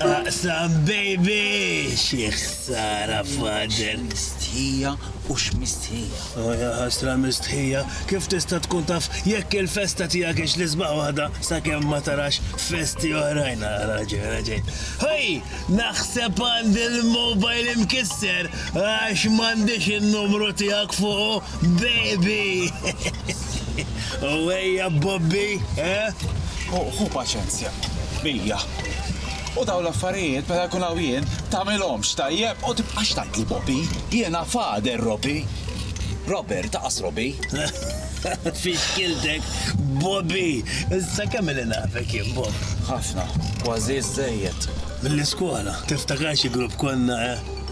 Aqsam baby! Xi ħsara father! Mistħija u x'mistħija. Oh ja ħasra mistħija, kif tista' tkun taf jekk il-festa tiegħek hix l-isbaħ waħda sakemm ma tarax festi oħrajn raġel raġel. Ħej, naħseb għandi l-mobile imkisser għax m'għandix in-numru tiegħek fuqu. Baby! U ejja Bobby, eh? Hu paċenzja, bija. U daw l-affarijiet meta jkun hawn jien tagħmilhomx tajjeb u tibqax tgħidli Bobby. Jiena fader Robi. Robert, taqas Robi. Fixkiltek, Bobby! Issa kemm li nafek jien Bob? Ħafna, kważi żejjed. Mill-iskola, tiftakar xi grupp konna, eh?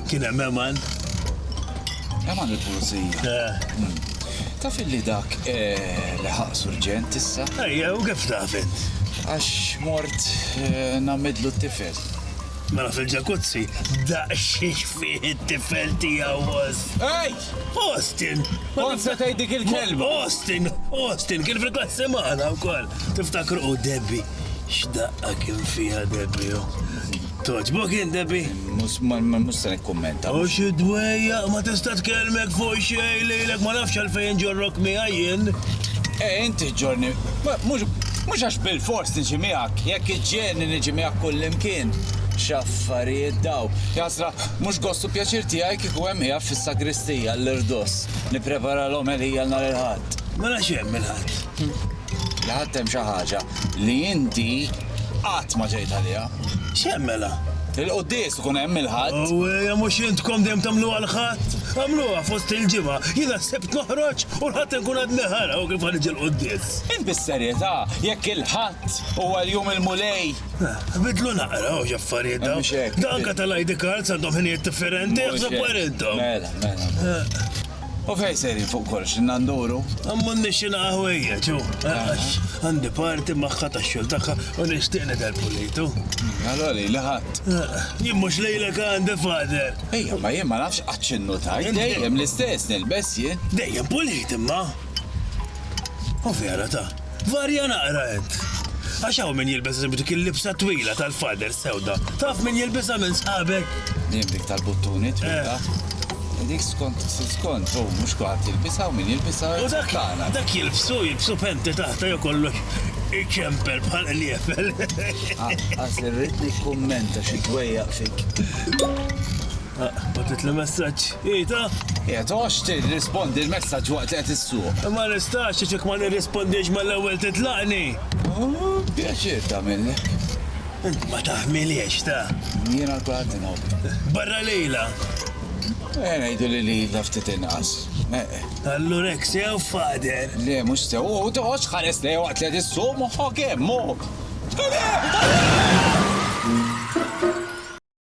Kien hemm Eman. Eman il-pulizija. Eh. Hmm. Taf li dak eh, li ħaq surġent issa? Ejja, u kif taf int? Għax mort eh, namidlu t-tifel. Mela fil-ġakuzzi, daqxiex fih it-tifel tiegħu was. Ej! Austin! Onsa tgħid dik il-kelma. Austin, Austin, kien fil-klassi magħna wkoll. Tiftakru u Debbie. X'daqqa kien fiha Debbie. Oh. Togħġbok int, Debbie? Mhux ma ma- mhux se nikkummenta. U xi dwejja, ma tista' tkellmek fuq xejn lilek, ma nafx għalfejn ġorrok miegħi jien. E inti ġorni, ma- mhux mhux għax bilfors niġi miegħek, jekk iġġielni niġi miegħek kullimkien. X'affarijiet daw. Jasra, mhux gost u pjaċir tiegħi kieku hemm qiegħed fis-sagristija, l-irdos, nipprepara l-omelija nhar il-Ħadd. Mela x'hemm il-Ħadd? li ħadt hemm xi ħaġa li inti qatt ma ġejt għaliha. X'hemm mela? Il-quddies ikun hemm il-Ħadd. Awwejja mhux intkom dejjem tagħmluha l-Ħadd? Għamluha fost il-ġimgħa, jiena s-Sibt noħroġ u l-Ħadd inkun għadni ħara u kif ħaniġi l-quddies. Int bis-serjetà jekk il-Ħadd huwa l-jum il-Mulej? Bidlu naqra hawn x'affarijiet dawn. Mhux hekk. Anke tal-ID cards għandhom ħinijiet differenti, aħsbu intom. Mela, mela. U fejn sejrin fuq kollox, inna nduru? M'għandniex xi naqa' ħwejjeġ, u għax għandi party magħha tax-xogħol tagħha u nixtieq nidher pulit, u. Allura lili ħadd. Jien mhux lilek għandi, Father! Ejja, ma jien ma nafx qatt x'innu tajt, dejjem l-istess nilbes jien. Dejjem pulit imma! U vera ta! Varja naqra int. Għax hawn min jilbes eżempju dik il-libsa twila tal-fader sewda. Taf min jilbisha minn sħabek? Dim dik tal-buttuni twila. Eh. Dik skont skont, u mhux kulħadd jilbisha u min jilbisha. U dak dak jilbsu, jilbsu penti taħta jew kollox iċempel bħal qliebel. Ah, Għaż irrid nikkummenta xi dwejjaq fik. Batet li messaġġ. Ita? Qiegħed għox tirrispondi l-messaġġ waqt li qed issuq. Ma nistax għax jekk ma nirrispondix mal-ewwel titlaqni. Pjaċir tagħmilli. Int ma taħmiliex ta. Jiena l-kulħadd inħobb. Barra lejla. Eh, ngħidu li lilna ftit inqas. Allura hekk sew fader. Le, mhux sew, u toħodx ħares lejha waqt li qed issuq moħħok hemm, moħħok.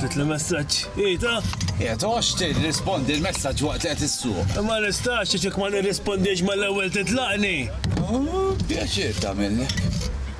Batit li messaġġ. Ita? Qiegħed għax tirrispondi l-messaġġ waqt li qed issuq. Ma nistax ċek ma nirrispondix mal-ewwel titlaqni. Pjaċir tagħmilni.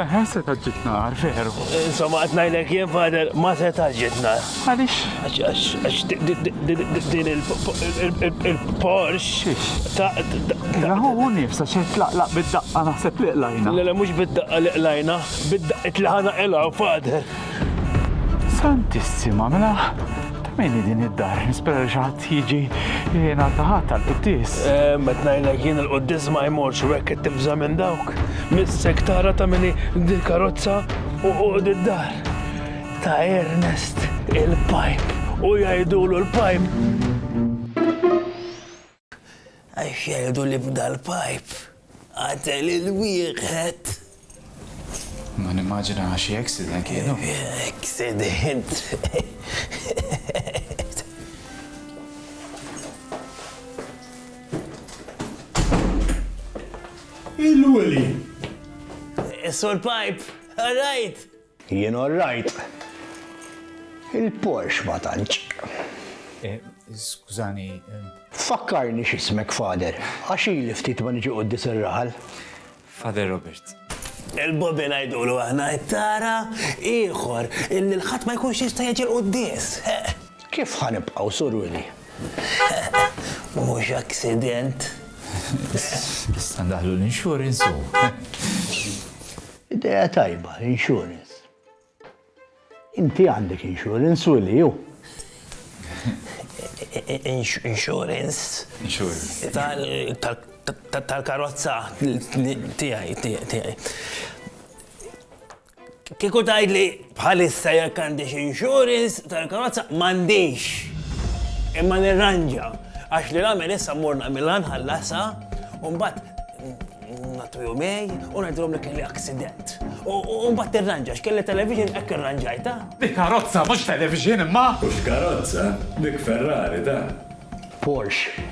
Eħe, seta' ġġib nar, veru. Insomma, qed ngħidlek jien fader ma seta' ġġib nar. Għaliex? Għax din il-Porsche ta' Raħu hu nifsa xejn tlaqlaq bid-daqqa naħseb li qlajna. Le le mhux bid-daqqa li qlajna, bid-daqqit li ħana qilgħu fader. Santissima, mela ta' min din id-dar? Nispera li xi ħadd Jiġi li jingħata ħadd għall-quddies. Ehm, qed ngħidlek jien il-quddies ma jmorx u hekk qed tibża' minn dawk. Missek tara ta' mini dil-karozza u qogħod id-dar. Ta' Ernest il-pipe u jgħidulu l-pipe. Għax jgħidu li b'dal-pajp qatel il-wieħed. Ma nimmaġina xi accident kienu. Accident. Il-Willy. Sur Pipe, all right. Jien orrajt. Il-Porsche ma tantx. Skużani. Fakkarni x'ismek Father, għax ili ftit ma niġi qudies ir-raħal. Father Robert. Il-Bobby ngħidulu aħna, tara, ieħor, illi l-ħadd ma jkunx jista' jiġi l-quddies. Kif ħa nibqgħu Sur Willy? Mhux aksident. Issa ndaħlu l-insurance u. Idea tajba, insurance. Inti għandek insurance u li ju. Insurance. Insurance. Tal-karozza tijaj, tijaj, tijaj. Kiku tajd li bħalissa jek għandix insurance tal-karozza mandix. Imma nirranġa. Għax li għamil issa morna mill-għanħallasa un bat Ngħattu jumej u ngħidilhom li kelli aksident. U mbagħad tirranġa x'kelli television hekk irranġajtha. Hi karozza mhux television imma! Mhux karozza, dik Ferrari dan. Porsche.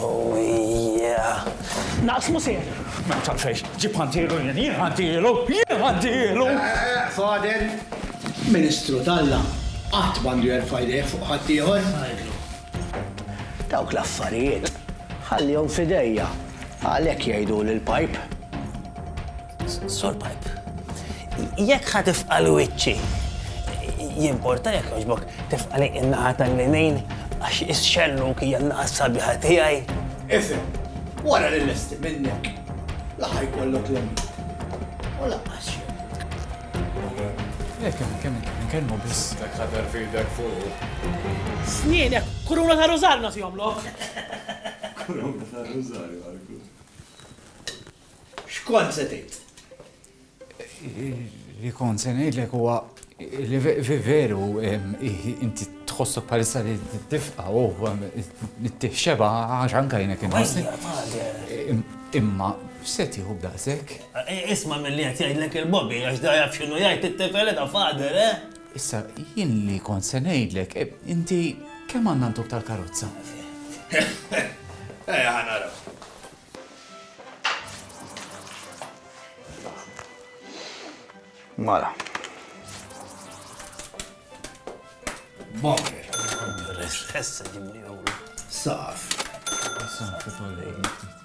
Oh yeah! Naqsmu sew! Ma taf xejn, ġib ħantielu jien, jien ħantielu, jien ħantielu! Fader, Ministru t'Alla qatt m'għandu jerfa' jdejh fuq ħaddieħor. Dawk l-affarijiet ħallihom f'idejja, għalhekk jgħiduli l-pajp. Sur pajp, jekk ħa tifqal wiċċi, jimporta jekk jogħġbok tifqali in-naħa tal-linejn għax ix-xellu kija naqa sabiħa tiegħi. Ifhem, wara li lesti minnek, laħaj kollok l-emin. U laqqas Jekk hemm kemm nkellmu biss. Dak ħadar fidek fuq. Snienek, kuruna ta' rużarju nagħtihom lok. Kuruna ta' rużarju għalku. X'kont se tgħid? Li kont se ngħidlek huwa li veru inti tħossok palissa li tifqa u t-tifxeba għax anka jnek Imma, seti hu b'daqsek. Isma' milli qed jgħidlek il-bobby għax da jaf x'inhu jgħid it-tifel eda father, eh? Issa, jien li kont se ngħidlek, inti kemm għandna ntuk tal-karozza? Ejja ħa naraw. Mala. Bonker. Issa ġibni Saf. Saf,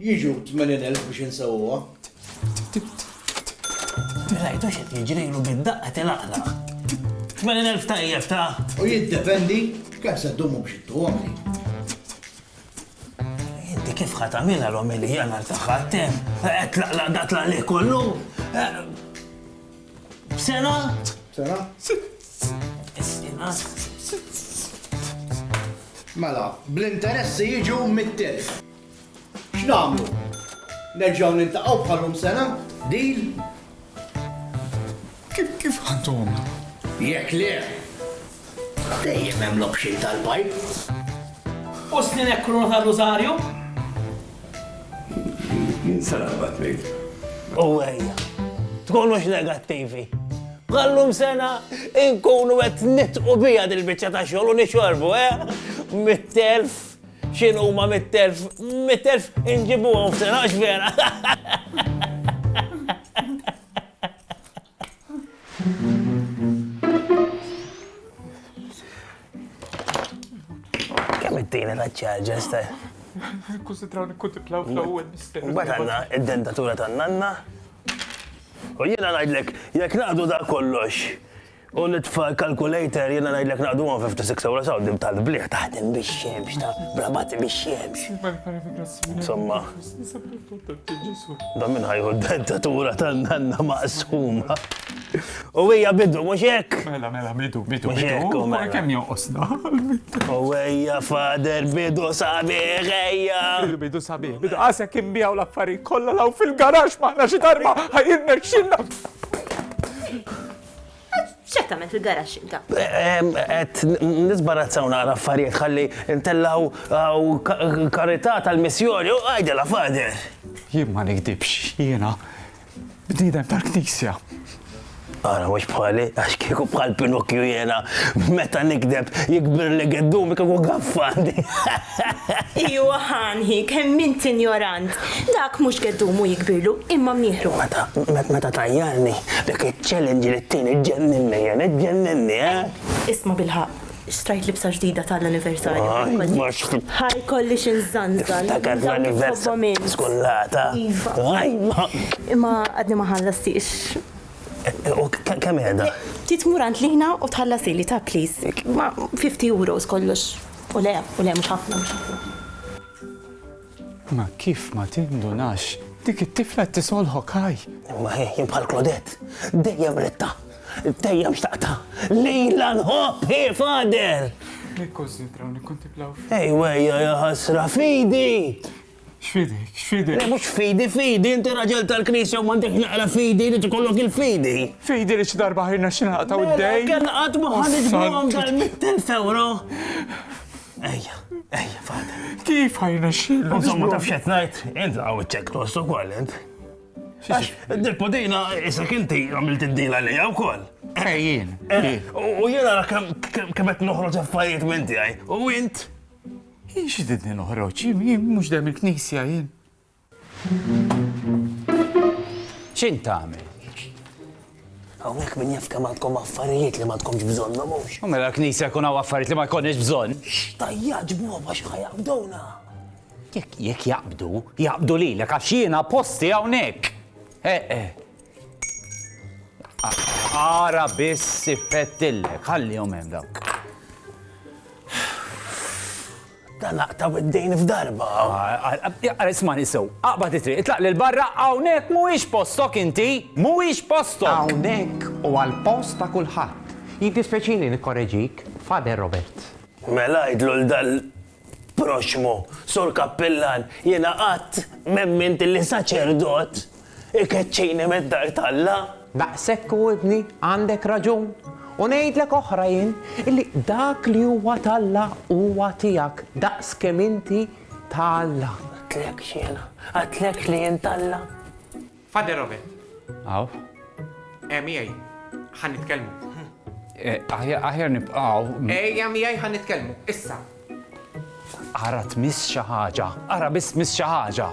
Jiġu 80,000 biex insewwuha. Rajtu x'qed jiġrilu bid-daqqa tilaqlaq. 80,000 tajjeb ta'. U jiddependi kemm se ddumu biex ittuhom li. Inti kif ħa tagħmilha l-omelija nhar tagħha tem, qed tlaqlaq dak l kollu. Sena? Sena? Sena? Mela, bl-interessi jiġu mit-telf. X'nagħmlu? Nerġgħu niltaqgħu bħalhom sena? Deal? Kif kif għandhom? Jekk le, dejjem hemm l-option tal-bajk. U snin hekk kruna ta' Rosario? Jien sara bat ngħid. U ejja, tkunux negattivi. Għallum sena inkunu qed nitqu bija dil-biċċa ta' xogħol u nixorbu, eh? Mit-telf X'in huma mit-telf, mit-telf inġibuhom f'sena għax vera. Kemm it-tieni taċċarġa staj? Nikkunsidraw nikkuntiplaw fl-ewwel mister. Mbagħad għandna id-dentatura tan-nanna. U jiena ngħidlek, jekk naqdu da kollox, U l-itfal calculator jiena ngħidlek naqduhom 56 ewro saw dim tal-bliħ taħdem bix-xemx ta' brabati bix-xemx. Insomma. Da minn ħajħu d-dentatura tan-nanna maqsuma. U hija bidu mhux hekk. Mela mela bidu bidu. Mhux hekk u mela. Kemm jonqosna. U hija fader bidu sabiħ ejja. Bidu sabiħ. Bidu qasek imbijaw l-affarijiet kollha law fil-garax maħna xi darba ħajirna xinna. X'qed tagħmel fil-garaxx inta? Qed nisbarazzaw naqra affarijiet ħalli ntellgħu uh, karità tal-missjoni u għajdela fader. Jien ma nikdibx, jiena bniedem tal-knisja. Ara, mux bħali, għax kieku bħal Pinocchio jena, meta nikdeb, jikbir li għeddum, kieku għaffandi. Iwa Hanhi, kemm int injorant! Dak mhux geddumu jikbirlu, imma mnieħru. Meta tajjarni, dak iċ-challenge li tini ġġenninni jien, iġġenninni, eh! Isma' bilħaqq, xtrajt libsa ġdida tal-anniversarju. Ħajt ma xħ. Ħa jkollix inżanżan. Tiftakar l-anniversarju skullata. Iva. Ħajt ma. Imma għadni ma ħallastix. U kemm qiegħda? Trid tmur għand Lina u tħallasili ta' please. Ma 50 euros kollox. U le, u le, mhux ħafna, mhux ħafna. Ma kif ma tindunax? Dik it-tifla qed tisolħok ħaj! Ma hi bħal Klodett, dejjem ridtha, dejjem xtaqtha, lilha nħobb hi Father! Nikkunsidraw, nikkuntiplaw. Ejwejja ja ħasra fidi! X'fidek, x'fidek? Le mhux fidi, fidi, inti raġel tal-Knisja u m'għandekx l-aqra fidi, irid ikollok il-fidi. Fidi li xi darba ħajrna xi naqtgħu d-dejn. Kien qatt ma ħa niġbuhom dal-100,000 ewro. Ejja, ejja, fada. Kif ħajrna xi? Insomma taf x'qed ngħid, int hawn iċ-ċekk tost ukoll int. Għax, dil-podina, isek inti għamilt id-dila li għaw kol. Ejjien. U jena kemm qed noħroġ affarijiet minn tiegħi. U int Jien xididni noħroġ, jien mhux dejjem il-knisja jien. X'int tagħmel? Hawnhekk min jaf kemm għandkom affarijiet li ma tkomx bżonnhom mhux. U mela l-knisja jkun hawn affarijiet li ma jkollniex bżonn. Tajja ġbuhom għax ħajabdowna. Jekk jekk jaqbdu, jaqbdu lilek għax jiena posti hawnhekk. Eh, eh. Ara biss siffettillek, ħallihom hemm dawn. Dan laqtaw id-dejn f'darba. Ara ismani sew, aqbad it-triq, itlaq lil barra hawnhekk mhuwiex postok inti, mhuwiex postok. Hawnhekk u għall-post ta' kulħadd. Jiddispeċini nikkoreġik, Father Robert. Mela għidlu l-dal proxxmu, Sur Kappillan, jiena qatt m'emmint li saċerdot ikeċċini mid-dar t'Alla. Daqshekk hu ibni, għandek raġun. U ngħidlek oħra jien, illi dak li huwa t'Alla huwa tiegħek daqs kemm inti ta' Alla. Għidtlekx jiena, għidtlekx li jien t'Alla? Father Robert. Hawn. Eh, miegħi. Ħa nitkellmu. Eh, aħjar nibqgħu. Ejja miegħi ħa nitkellmu. Issa. Ara tmiss xi ħaġa. Ara biss miss xi ħaġa.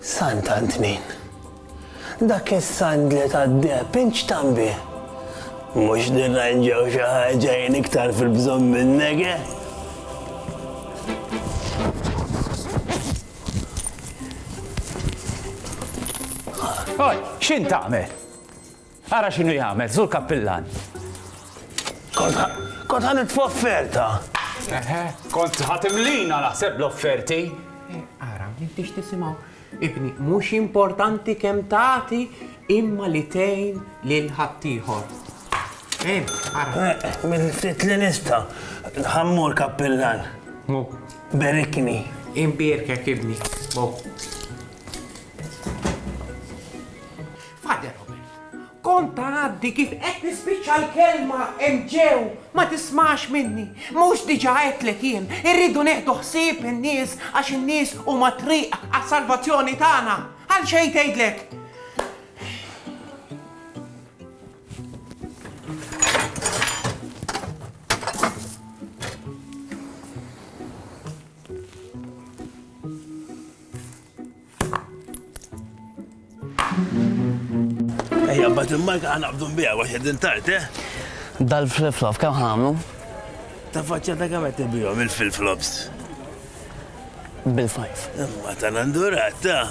Sant'Antnin. Dak is-sandli tad-deheb inċtan bih. Mhux nirranġaw xi ħaġa jien iktar fil-bżonn minnek, eh? Oj, x'in tagħmel? Ara x'inhu jagħmel, żur kappillan. Kont ħa nitfa' offerta. Kont ħa timlina naħseb l-offerti. Ara, m'intix tisimgħu. Ibni, mhux importanti kemm tagħti imma li tgħin lil ħaddieħor. Eh, ara. Minn ftit li nista' ħammur kappillan. Mu. Berikni. Imbierkek ibni. Mu. Father Robert, Kont tgħaddi kif qed nispiċċa l-kelma hemm ġew, ma tismax minni. Mhux diġà għedtlek jien, irridu nieħdu ħsieb in-nies għax in-nies huma t-triq għas-salvazzjoni tagħna. Għal xejn tgħidlek. Ejja, bat il-marka għana bdun bija, għax għedin tart, eh? Dal-flip-flop, kam ħamlu? Ta' faċċa ta' kam għetti bijom il-flip-flops? Bil-fajf. Imma ta' nandurat, ta'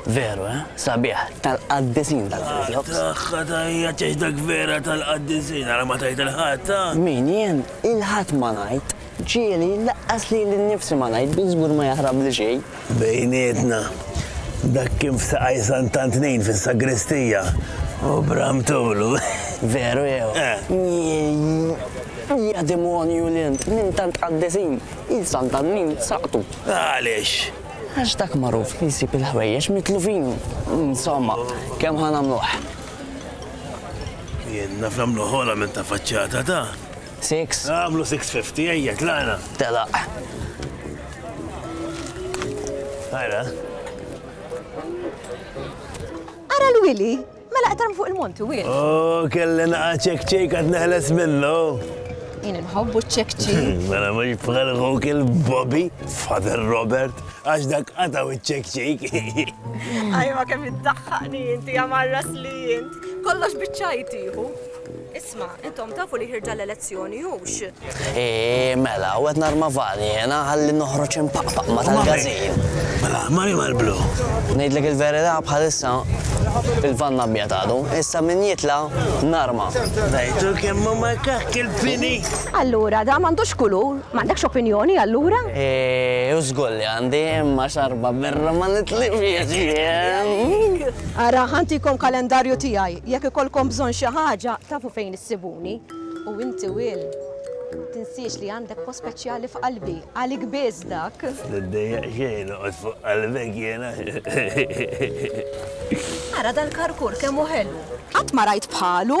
Veru, eh? Sabiħ, tal-qaddisin tal-flip-flops. Taħħa ta' hija ċeċdak vera tal-qaddisin, għara ma tajt il-ħat, ta' Min jien il-ħat ma najt. Ġieli, laqqas lili nnifsi ma ngħid, bi żgur ma jaħrabli xejn. Bejnietna, dak kien f'Saqaj Sant'Antnin fis-sagristija, u bram tulu. Veru jew? Jiejjii! Ja demonju li int, minn tant qaddisin, il Sant'Antnin saqtu. Għaliex? Għax dak magħruf li jsib il-ħwejjeġ mitlufin. Insomma, kemm ħa nagħmluh? Jien naf nagħmluh ogħla minn ta' faċċata ta'. Six. Għamlu 650, ejja, tlaqna. Telaq. Għara. Ara l-wili, mela qtarm fuq il-monti, wil. Oh, kelli naqa ċek ċek għad neħles minnu. Jien nħobbu ċek ċek. Mela mux bħal għuk il-Bobby, Father Robert, għax dak għataw ċek ċek. Ajma kemm id-daħħani jinti għamarras li jint. Kollox bieċajtiħu. Isma', intom tafu li ħirġa l-elezzjoni, hux? Eeh, mela, u qed narma vani jiena ħalli noħroġ impaqpaq ma' tal-gażin. Mela, mani mal-blu. Ngħidlek il-verità bħalissa il-vann abjad għadu, issa min jitla' narma. Rajtu kemm hu makakk il-fini? Allura, dan m'għandux kulur? M'għandekx opinjoni allura? Eeh, u żgur li għandi, imma xarba birra ma nitlifhiex jien. Ara, ħa ntikom kalendarju tiegħi. Jekk ikollkom bżonn xi ħaġa, tafu fejn issibuni. U inti Will, tinsiex li għandek post speċjali f'qalbi, għalik biss dak. Tiddejjaq xejn, noqgħod fuq qalbek jiena. Ara dal-karkur kemm hu ħelu! Qatt ma rajt bħalu!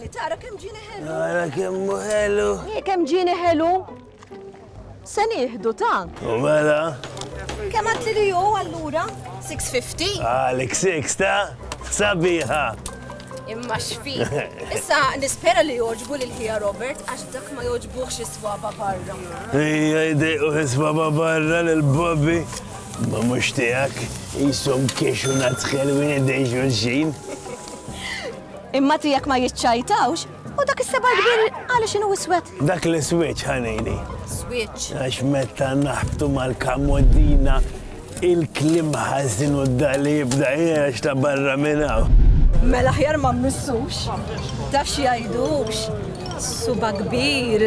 Li tara kemm ġini ħelu. Tara kemm ħelu. Hi kemm ġini ħelu. Se nieħdu ta'. U mela. Kemm għad li ju allura? 650? Għalik 6 ta' sabiħa. Imma xfi. Issa nispera li joġbu lil ħija Robert għax dak ma joġbuħx is-swaba barra. Ija jdejqu is-swaba barra lil Bobby. Ma mhux tiegħek jisom kiexu nadħel wien id-dejxu l-xin. Imma tiegħek ma jiċċajtawx, u dak is-seba' l-kbir għaliex inhu iswed? Dak l-iswieġ, ħanini. Swieġ. Għax meta naħbtu mal-kamoddina il-klim ħażin u d-dali jibda jgħax ta' barra minn hawn. Mela ħjar ma mmissux, ta' xi jgħidux, suba kbir.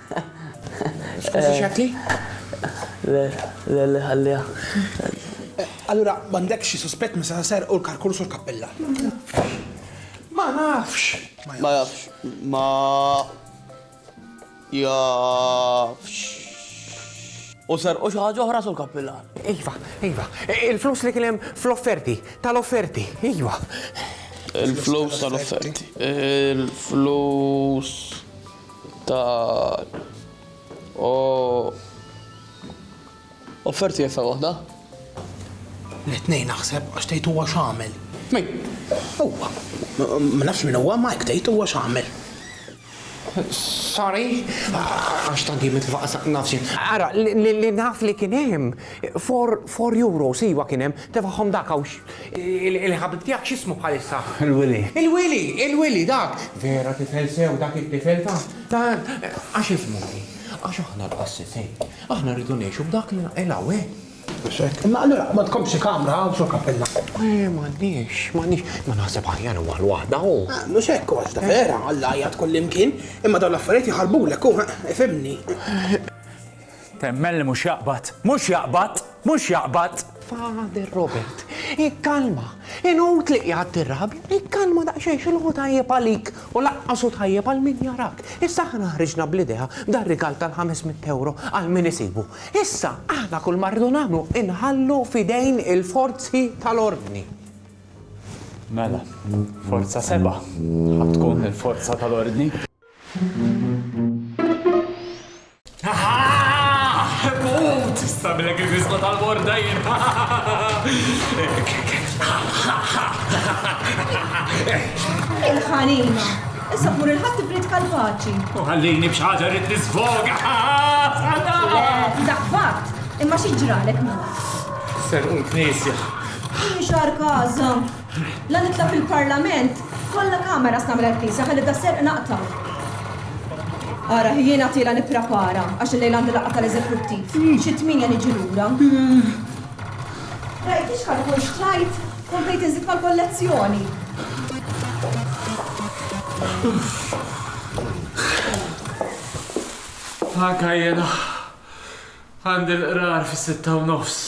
Skużi x'għedtli? Le, le, le, ħalliha. Allura m'għandekx xi suspett minn seta' serqu l-karkurs u l-kappella? Ma nafx. Ma jafx. Ma jafx. U serqu xi ħaġa oħra, Sur Kappillan? Iva, iva. Il-flus li kien hemm fl-offerti, tal-offerti, iva. Il-flus tal-offerti. Il-flus. ta' u offerti jeffa waħda? L-tnejn naħseb għax tgħid huwa x'għamel. Min? Huwa. Ma nafx min huwa ma hekk tgħid huwa x'għamel. Sorry, għax tant jien mitlufa qas nafx. Ara, li naf li kien hemm four euros iva kien hemm, tefagħhom dak hawn Il-ħabib tiegħek x'ismu bħalissa? Il-Wili. Il-Wili! Il-Wili dak! Vera tifel sew dak it-tifel ta'. ta' għax ismu hi. Għax aħna l-qassisin. Aħna rridu ngħixu b'dak li naqilha hawn. Imma allura ma tkomx xi kamra hawn sur kappella. Eh, m'għandniex, m'għandniex. Ma naħseb aħjar huwa l-waħda hu. Ah, mhux hekk għax ta' vera, Alla jgħid kull imkien, imma dawn l-affarijiet jħarbulek hu, ifhimni. Temmen li mhux jaqbad! Mhux jaqbad! Mhux jaqbad! Father Robert, ikkalma! Inut li qiegħed tirrabja, ikkalma daqsxejn x'inhu hu tajjeb għalik u lanqas hu tajjeb għal min jarak. Issa aħna ħriġna bl-idea dar-rigal tal-ħames mitt ewro għal min isibu. Issa aħna kull ma rridu nagħmlu inħallu f'idejn il-forzi tal-ordni. Mela, Forza Seba' ħa tkun il-forza tal-ordni? Mut! Issa bilek il-fisqa tal-borda jien. Il-ħanina. Issa tmur il-ħadd tibrid kalpaċi. U ħallini b'xaġa rrid nisfoga. Dak fatt, imma xi ġralek mut. Serqu l-knisja. Xar kaza. La nitla' fil-Parlament, kollha cameras nagħmel għall-Knisja ħalli tas-serq naqta'. Ara, jien għad ilha nipprepara għax illejla għandi laqgħa tal-Eżekuttiv. Xi tmienja niġi lura. Rajt li x'kalkol xtrajt, komplet inżid mal-kollezzjoni. Anka jiena għandi l-qrar fis-sitta u nofs.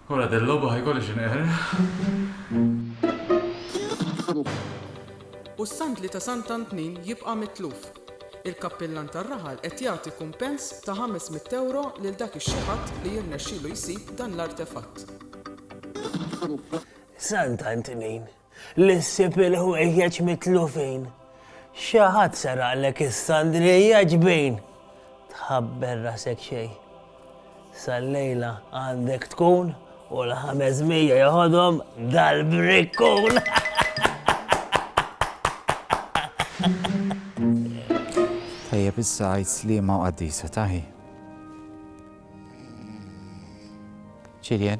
Ora del logħba ħa jkolli x'inqerraq. U s-sandli ta' Sant Antnin jibqa' mitluf. Il-kappillan tar-raħal qed jagħti kumpens ta' ħames mitt ewro lil dak ix-xi ħadd li jirnexxilu jsib dan l-artefatt. Sant Antnin Li ssib il-ħwejjeġ mitlufin. Xi ħadd seraqlek is-sandrija ġbin. Tħabber rasek xejn. Sal-lejla għandek tkun u l-ħames mija joħodhom dal-brikkun. Tajjeb issa għajt slima u qaddisa taħi. Ċiljen.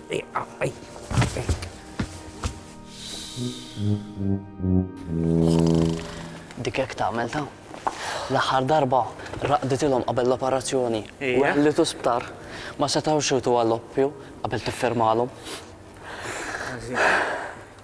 Dik hekk tagħmel ta'. L-aħħar darba raqditilhom qabel l-operazzjoni u għellitu sptar ma setgħux iwtu għall-oppju qabel tiffirmalhom.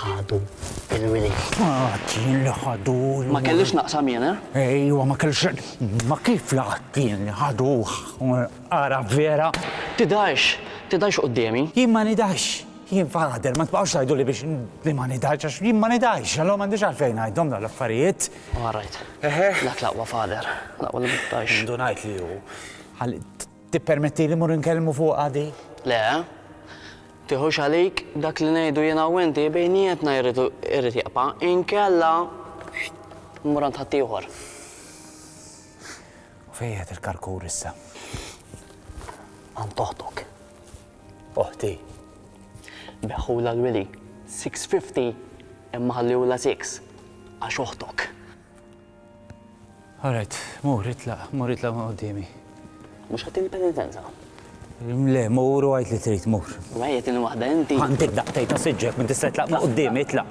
Ħadu il-wilied. Qatt jien li ħadu l-wilied. Ma kellix naqsam jien, eh? Ejwa, ma kellix. Imma kif li qatt jien li ħaduh? Ara vera. Tidhirx, tidhirx quddiemi. Jien ma nidhirx. Jien father, ma tbaqgħux tgħiduli biex li ma nidhirx għax jien ma nidhirx, allura m'għandix għalfejn ngħidhom dawn l-affarijiet. All right. Dak l-aqwa father, l-aqwa li ma tidhirx. Indunajt li hu. Tippermettili mmur inkellmu fuqha dik? Le. Tiħux għalik, dak li ngħidu jiena u inti bejnietna jrid irid jibqa', inkella mmur għand ħaddieħor. U fejn qiegħed il-karkur issa? Għand oħtok. Oħti? Beħħulha l-wili, 650 imma ħalliehulha 6 għax oħtok. All right, mur, itlaq, mur itlaq minn quddiemi. Mhux ħattini penitenza? Le, mur u għid li trid mur. Mejja tieni waħda inti. Għandik daqtej ta' siġġek minn tista' itlaq minn quddiemi, itlaq.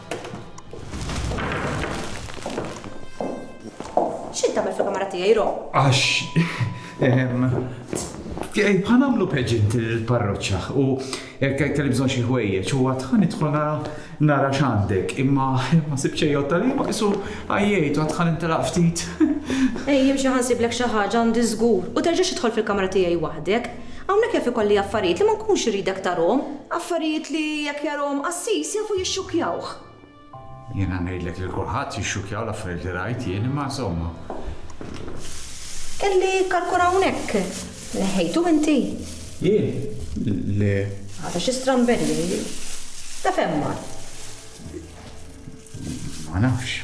X'int tagħmel fil-kamra tiegħi, Ro? Għax. Ehm, Ħanamlu peġint il-parroċċa u kelli bżonn xi ħwejjeġ u għad ħanidħol nara nara x'għandek imma ma sibx xejn tal-li ma qisu għajjejt u għad ħanintelaq ftit. Ej, jimxi ħansiblek xi ħaġa għandi żgur u terġax idħol fil-kamra tiegħi waħdek. Hawnhekk jaf ikolli affarijiet li ma nkunx iridek tarahom. Affarijiet li jekk jarahom qassis jafu jixxukkjawh. Jiena ngħidlek lil kulħadd jixxukkjaw l-affarijiet li rajt jien imma insomma. Kelli karkun hawnhekk. Neħħejtu inti? Jien? Le. Għadha xi stramberija hi. Ta' fejn mar? Ma nafx.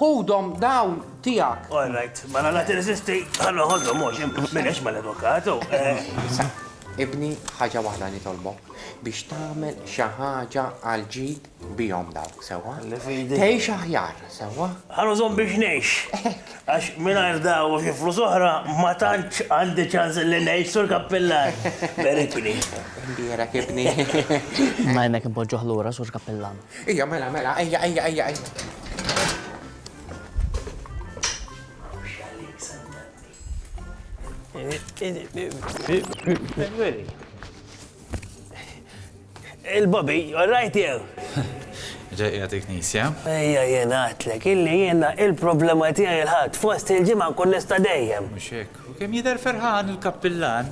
Ħudhom dawn tiegħek. All right, mela la tirreżisti, ħa noħodhom mhux, m'inhiex mal-avukat, u. Sa, ibni, ħaġa waħda nitolbok, biex tagħmel xi ħaġa għal ġid bihom dawk, sewwa? Li fidi. Tgħix aħjar, sewwa? Ħa nużhom biex ngħix. Hekk. Għax mingħajr dawn u xi flus oħra ma tantx għandi ċans li ngħix, Sur Kappillan. Berikni. Imbierek, ibni. Imma hemmhekk inpoġġuh lura, Sur Kappillan. Ejja mela mela ejja ejja ejja ejja. Il-Bobby, all right jew? Ġejja dik nisja. Ejja jien għatlek, illi jiena il-problema tiegħi l-ħadd fost il-ġimgħa nkun nista' dejjem. Mhux hekk. U kemm jidher ferħan il-kappillan.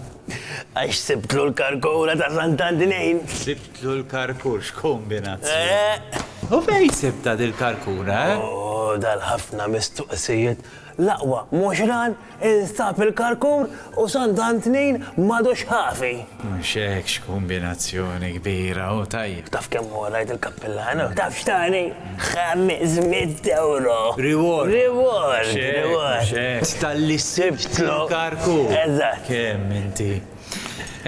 Għax sibtlu l-karkura ta' Sant'Antinejn! Sibtlu l-karkur, x'kombinazzjoni! U fejn sibtha dil-karkura, eh? Oh, dal-ħafna mistoqsijiet! L-aqwa mhux ran instab il-karkur u Sant'Antnejn m'għadux ħafi! Mhux hekk x'kumbinazzjoni kbira u tajjeb. Taf kemm hu rajt il-kappillan u taf x'tani? Ħames mitt ewro! Reward! Reward! Mhux hekk, mhux hekk. Talli sibtlu karku! Eżatt! Kemm inti.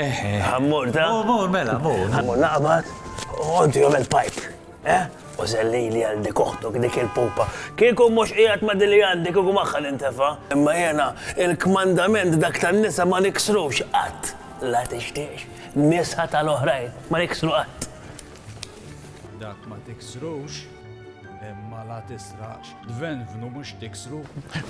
Eħe. Ħa mmur ta? Mur, mur, mela, mur. Ħa mmur naqbad u inti għamel pipe. Eh? U zellili għal dik oħtok dik il-pupa. Kieku mhux qiegħed ma' dili għandi kieku magħha nintefa'. Imma jiena il-kmandament dak tan-nisa ma niksrux qatt. La tixtiex nisa tal-oħrajn ma niksru qatt. Dak ma tiksrux imma la tisraqx. Dvenvnu mhux tiksru.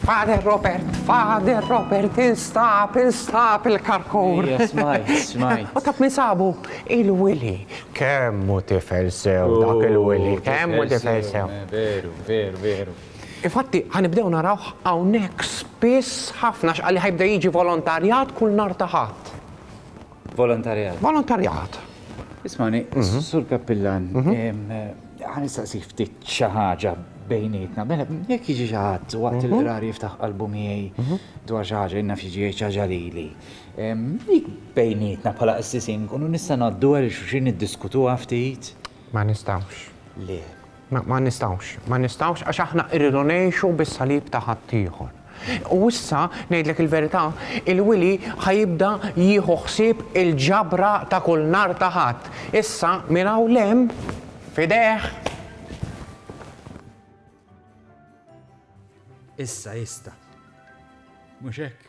Father Robert, Father Robert, instab, instab il-karkur. Smaj, smaj. U taf min sabu? Il-Willy. Kemmu tifel sew oh, dak il-Willy, kemmu tifel sew. Eh, veru, veru, veru. Infatti, ħanibdew naraw hawnhekk spiss ħafna x'qalli ħajbda jiġi volontarjat kull nar taħat. Volontarjat. Volontarjat. Ismani, mhm. sur kappillan, mhm. għan istaqsik ftit xaħġa bejnietna, mela, jek jiġi xaħat waqt mhm. il-qrar jiftaħ qalbu miegħi dwar xaħġa, jenna fiġi xaħġa li li. Dik bejnietna bħala qassisin, kunu nista' naddu għal xuxin id-diskutu ftit. Ma nistawx. Le. Ma nistgħux, ma nistgħux għax aħna rridu ngħixu bis-salib ta' ħaddieħor. U issa, ngħidlek il-verità, il-Wili ħa jibda jieħu ħsieb il-ġabra ta' kull nhar ta' Ħadd. Issa, minn hawn 'l hemm, f'idejh. Issa jista'. Mhux hekk?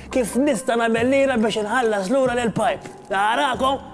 Kif nista' nagħmel lira biex inħallas lura lil Pipe? Narakom!